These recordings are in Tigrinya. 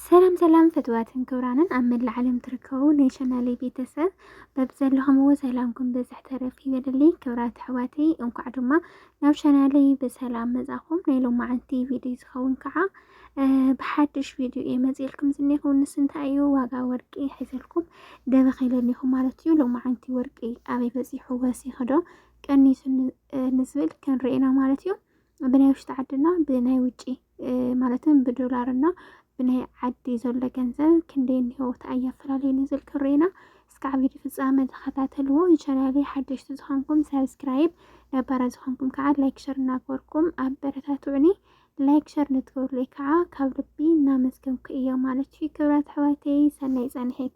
ሰላም ሰላም ፍትዋትን ክብራንን ኣብ መላእ ዓለም ትርከቡ ናይ ቻናለይ ቤተሰብ በብዘለኹምዎ ሰላምኩም ብዝሕ ተረፍ ይበልልይ። ክብራት ኣሕዋተይ እንኳዕ ድማ ናብ ቻናለይ ብሰላም መጻኹም። ናይ ሎማዓንቲ ቪድዮ ዝኸውን ከዓ ብሓድሽ ቪድዮ እየ መፅልኩም ዝኒኹ ንስ እንታይ እዩ ዋጋ ወርቂ ሒዘልኩም ደበኽ ኢለኒኹም ማለት እዩ። ሎማዓንቲ ወርቂ ኣበይ በፂሑ ወሲኹ ዶ ቀኒሱ ንዝብል ክንርኤና ማለት እዩ ብናይ ውሽጢ ዓድና ብናይ ውጪ ማለትም ብዶላር እና ብናይ ዓዲ ዘሎ ገንዘብ ክንደይ እኒሆ ተኣያ ፈላለዩ ንዝል ክሬና እስካዕ ቪዲ ፍፃመ ተኸታተልዎ ቻናሌ ሓደሽቲ ዝኾንኩም ሳብስክራይብ ነባራ ዝኾንኩም ከዓ ላይክ ሸር እናግበርኩም ኣብ በረታትዑኒ ላይክ ሸር ንትገብሩለይ ከዓ ካብ ልቢ እናመስገንኩ እዮ ማለት እዩ ክብራት ኣሕዋተይ ሰናይ ፃንሒት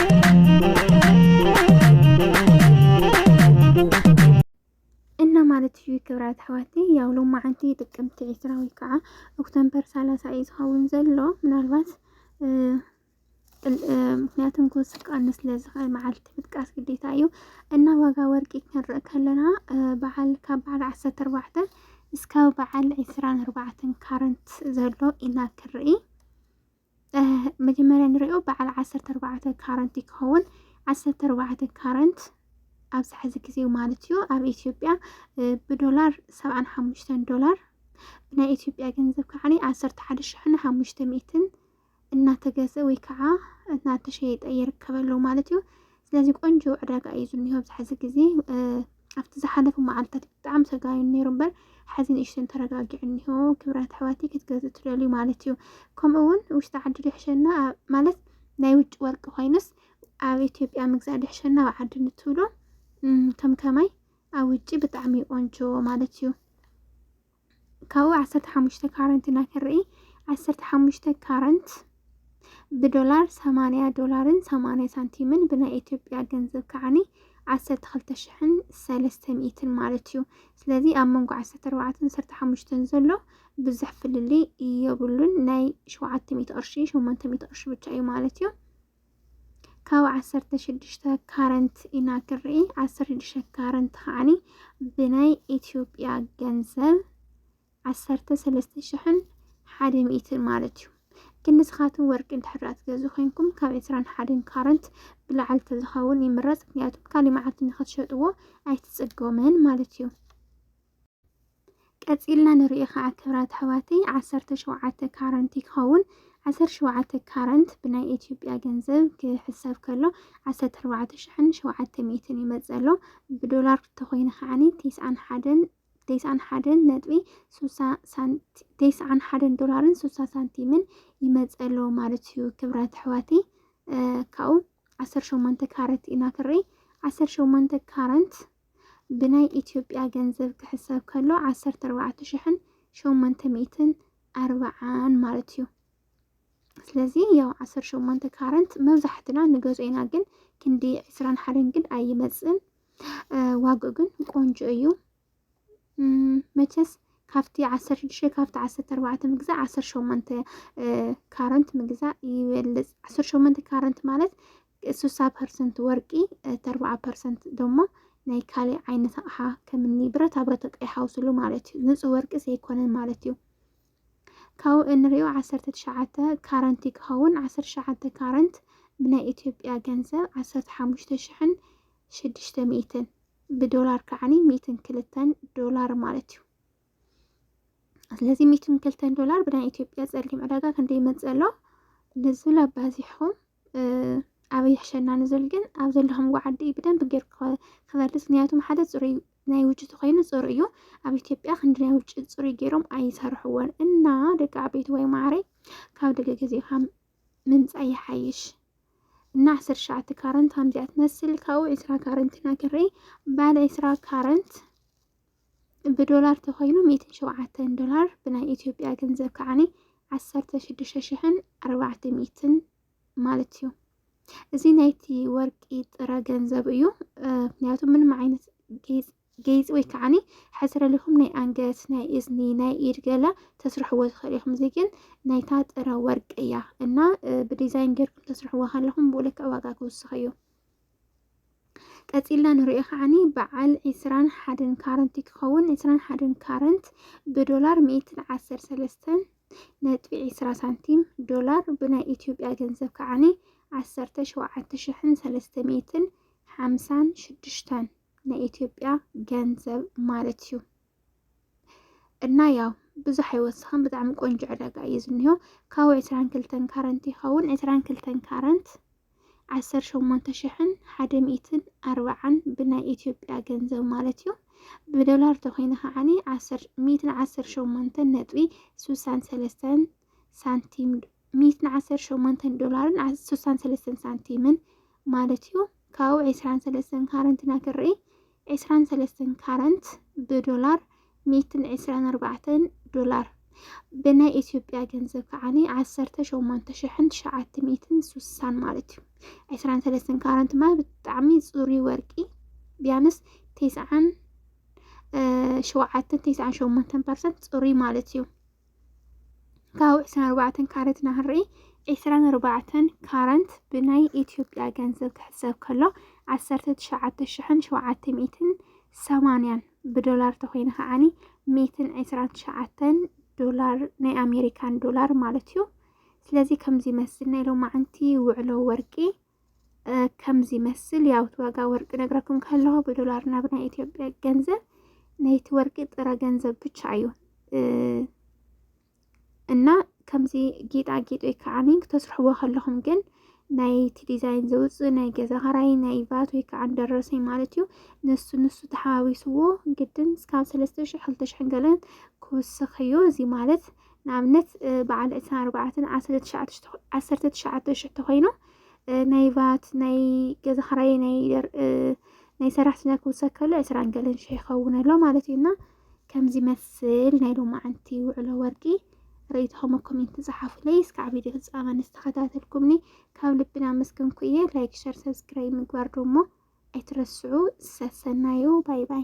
ማለት እዩ ክብራት ኣሕዋቲ ያው ሎማዓንቲ ጥቅምቲ ዕስራ ወይ ከዓ ኦክቶምበር ሰላሳ እዩ ዝኸውን ዘሎ ምናልባት ምክንያቱም ኮስ ክቀንስ ስለዝኽእል መዓልቲ ምጥቃስ ግዴታ እዩ እና ዋጋ ወርቂ ክንርኢ ከለና በዓል ካብ በዓል ዓሰርተ ኣርባዕተ እስካብ በዓል ዕስራን ኣርባዕተን ካረንት ዘሎ ኢና ክንርኢ መጀመርያ ንሪኦ በዓል ዓሰርተ ኣርባዕተ ካረንት ይከኸውን ዓሰርተ ኣርባዕተ ካረንት ኣብዚ ሕዚ ግዜ ማለት እዩ ኣብ ኢትዮጵያ ብዶላር ሰብዓን ሓሙሽተን ዶላር ብናይ ኢትዮጵያ ገንዘብ ከዓ ዓሰርተ ሓደ ሽሕን ሓሙሽተ ሚእትን እናተገዘ ወይ ከዓ እናተሸየጠ ይርከበሉ ማለት እዩ። ስለዚ ቆንጆ ዕዳጋ እዩ ዝኒሆ ኣብዚ ሕዚ ግዜ ኣብቲ ዝሓለፉ መዓልታት ብጣዕሚ ሰጋዩን ነይሩ እምበር ሓዚ ንእሽተን ተረጋጊዑ እኒሆ ክብራት ኣሕዋተይ ክትገዝኡ ትደልዩ ማለት እዩ ከምኡ እውን ውሽጢ ዓዲ ድሕሸና ማለት ናይ ውጭ ወርቂ ኮይኑስ ኣብ ኢትዮጵያ ምግዛእ ድሕሸና ኣብ ዓዲ ንትብሉ ከም ከማይ ኣብ ውጭ ብጣዕሚ ቆንጆ ማለት እዩ ካብኡ ዓሰርተ ሓሙሽተ ካረንት ኢና ክንርኢ ዓሰርተ ሓሙሽተ ካረንት ብዶላር ሰማንያ ዶላርን ሰማንያ ሳንቲምን ብናይ ኢትዮጵያ ገንዘብ ከዓኒ ዓሰርተ ክልተ ሽሕን ሰለስተ ሚእትን ማለት እዩ ስለዚ ኣብ መንጎ ዓሰርተ ኣርባዕተን ዓሰርተ ሓሙሽተን ዘሎ ብዙሕ ፍልልይ የብሉን ናይ ሸውዓተ ሚእቲ ቅርሺ ሸሞንተ ሚእቲ ቅርሺ ብቻ እዩ ማለት እዩ ካብ ዓሰርተ ሽዱሽተ ካረንት ኢና ክርኢ ዓሰርተ ሽዱሽተ ካረንት ከዓኒ ብናይ ኢትዮጵያ ገንዘብ ዓሰርተ ሰለስተ ሽሕን ሓደ ሚእትን ማለት እዩ ግን ንስኻትኩም ወርቂ እንድሕር ትገዙ ኮይንኩም ካብ ዕስራን ሓደን ካረንት ብላዕሊ ተዝኸውን ይምረፅ ምክንያቱም ካሊእ መዓልቲ ንክትሸጥዎ ኣይትፅገሙን ማለት እዩ ቀጺልና ንሪኦ ከዓ ክብራት ኣሕዋተይ ዓሰርተ ሸውዓተ ካረንት ይኸውን ዓሰርተ ሸውዓተ ካረንት ብናይ ኢትዮጵያ ገንዘብ ክሕሰብ ከሎ ዓሰርተ ኣርባዕተ ሽሕን ሸውዓተ ሚእትን ይመፅእ ኣሎ ብዶላር ተኮይኑ ከዓኒ ቴስዓን ሓደን ቴስዓን ሓደን ነጥቢ ሱሳ ሳንቲ ቴስዓን ሓደን ዶላርን ሱሳ ሳንቲምን ይመፅእ ኣሎ ማለት እዩ ክብራት ኣሕዋተይ ካብኡ ዓሰርተ ሸሞንተ ካረት ኢና ክርኢ ዓሰርተ ሸሞንተ ካረንት ብናይ ኢትዮጵያ ገንዘብ ክሕሰብ ከሎ ዓሰርተ ኣርባዕተ ሽሕን ሸሞንተ ሚእትን ኣርባዓን ማለት እዩ። ስለዚ ያው ዓሰር ሸሞንተ ካረንት መብዛሕትና ንገዝኦ ኢና፣ ግን ክንዲ ዕስራን ሓደን ግን ኣይመፅእን። ዋግኡ ግን ቆንጆ እዩ። መቸስ ካብቲ ዓሰር ሽዱሽተ ካብቲ ዓሰርተ ኣርባዕተ ምግዛእ ዓሰር ሸሞንተ ካረንት ምግዛእ ይበልፅ። ዓሰር ሸሞንተ ካረንት ማለት ስሳ ፐርሰንት ወርቂ እቲ ኣርብዓ ፐርሰንት ደሞ ናይ ካሊእ ዓይነት ኣቕሓ ከምኒ ብረታ ብረት ይሓውስሉ ማለት እዩ ንፁህ ወርቂ ዘይኮነን ማለት እዩ ካብኡ እንሪኦ ዓሰርተ ትሽዓተ ካረንት እዩ ክኸውን ዓሰርተ ትሽዓተ ካረንት ብናይ ኢትዮጵያ ገንዘብ ዓሰርተ ሓሙሽተ ሽሕን ሽዱሽተ ሚእትን ብዶላር ከዓኒ ሚእትን ክልተን ዶላር ማለት እዩ ስለዚ ሚእትን ክልተን ዶላር ብናይ ኢትዮጵያ ፀሊም ዕዳጋ ክንደይ ይመፅእ ኣሎ ነዚ ላባዚሕኹም ኣበይ ይሕሸና ንዝብል ግን ኣብ ዘለኹምዎ ዓዲ እዩ ብደንብ ገይሩ ክበልፅ ምክንያቱም ሓደ ፅሩይ ናይ ውጭ ተኮይኑ ፅሩይ እዩ ኣብ ኢትዮጵያ ክንዲ ናይ ውጭ ፅሩይ ገይሮም ኣይሰርሕዎን እና ደቂ ዓበይቲ ወይ ማዕረይ ካብ ደቂ ገዜካ ምምፃእ ይሓይሽ እና ዓሰርተ ሸዓተ ካረንት ከምዚኣ ትመስል ካብኡ ዕስራ ካረንት ናገረይ ባለ ዕስራ ካረንት ብዶላር ተኮይኑ ሚእትን ሸውዓተን ዶላር ብናይ ኢትዮጵያ ገንዘብ ከዓኒ ዓሰርተ ሽዱሽተ ሽሕን ኣርባዕተ ሚእትን ማለት እዩ። እዚ ናይቲ ወርቂ ጥረ ገንዘብ እዩ። ምክንያቱ ምንም ዓይነት ጌፅ ወይ ከዓኒ ሕስረልኹም ናይ ኣንገት ናይ እዝኒ ናይ ኢድ ገለ ተስርሕዎ ትኽእል ኢኹም። እዚ ግን ናይታ ጥረ ወርቂ እያ እና ብዲዛይን ጌርኩም ተስርሕዎ ከለኹም ብኡ ልክዕ ዋጋ ክውስኽ እዩ። ቀጺልና ንሪኦ ከዓኒ በዓል ዕስራን ሓደን ካረንት ክኸውን ዕስራን ሓደን ካረንት ብዶላር ሚእትን ዓሰር ሰለስተን ነጥቢ ዕስራ ሳንቲም ዶላር ብናይ ኢትዮጵያ ገንዘብ ከዓኒ ዓሰርተ ሸውዓተ ሽሕን ሰለስተ ሚእትን ሓምሳን ሽዱሽተን ናይ ኢትዮጵያ ገንዘብ ማለት እዩ። እና ያው ብዙሕ ኣይወስኽን ብጣዕሚ ቆንጆ ዕዳጋ እዩ ዝኒሆ ካብኡ ዕስራን ክልተን ካረንት ይኸውን ዕስራን ክልተን ካረንት ዓሰርተ ሸሞንተ ሽሕን ሓደ ሚእትን ኣርባዓን ብናይ ኢትዮጵያ ገንዘብ ማለት እዩ ብዶላር ተኮይነ ከዓኒ ሚእትን ዓሰርተ ሸሞንተን ነጥቢ ስሳን ሰለስተን ሳንቲም ሚእትን ዓሰርተ ሸሞንተን ዶላርን ስሳን ሰለስተን ሳንቲምን ማለት እዩ ካብኡ ዕስራን ሰለስተን ካረንት ኢና ክንርኢ። ዕስራን ሰለስተን ካረንት ብዶላር ሚእትን ዕስራን ኣርባዕተን ዶላር ብናይ ኢትዮጵያ ገንዘብ ከዓኒ ዓሰርተ ሸሞንተ ሽሕን ትሽዓተ ሚእትን ሱሳን ማለት እዩ። ዕስራን ሰለስተን ካረንት ማለት ብጣዕሚ ፅሩይ ወርቂ ቢያንስ ቴስዓን ሸውዓተን ቴስዓን ሸሞንተን ፐርሰንት ፅሩይ ማለት እዩ። ካብ ዕስራን ኣርባዕተን ካረት ናህሪ ዕስራን ኣርባዕተን ካረንት ብናይ ኢትዮጵያ ገንዘብ ክሕሰብ ከሎ ዓሰርተ ትሽዓተ ሽሕን ሸውዓተ ሚእትን ሰማንያን ብዶላር ተኮይኑ ከዓኒ ሚእትን ዕስራን ትሽዓተን ዶላር ናይ ኣሜሪካን ዶላር ማለት እዩ። ስለዚ ከምዚ ይመስል ናይ ሎማዓንቲ ውዕሎ ወርቂ ከም ዝመስል ያውት ዋጋ ወርቂ ነግራኩም ከለኹ ብዶላር ናብ ናይ ኢትዮጵያ ገንዘብ ናይቲ ወርቂ ጥረ ገንዘብ ብቻ እዩ እና ከምዚ ጌጣጌጥ ወይ ከዓ ክተስርሕዎ ከለኹም ግን ናይቲ ዲዛይን ዘውፅእ ናይ ገዛ ኸራይ ናይ ቫት ወይ ከዓ ደረሰኝ ማለት እዩ ንሱ ንሱ ተሓዋዊስዎ ግድን እስካብ ሰለስተ ሽሕ ክልተ ሽሕ ገለን ክውስኽ እዩ እዚ ማለት ንኣብነት በዓል ዕስራን ኣርባዕተን ዓሰርተ ትሽዓተ ሽሕ ተኮይኖም ናይ ቫት ናይ ገዛ ክራይ ናይ ናይ ሰራሕተኛ ክውሰከሉ ዕስራን ገለን ሽሕ ይኸውን ኣሎ ማለት እዩ እና ከምዚ መስል ናይ ሎማዓንቲ ውዕሎ ወርቂ ርእይቶኹም ኣብ ኮሜንት ጸሓፉለይ። እስካዕ ቪድዮ ፍጻመ ንዝተኸታተልኩምኒ ካብ ልብና መስገንኩ እየ። ላይክ፣ ሸር፣ ሰብስክራይብ ምግባር ደሞ ኣይትረስዑ። ሰሰናዩ ባይ ባይ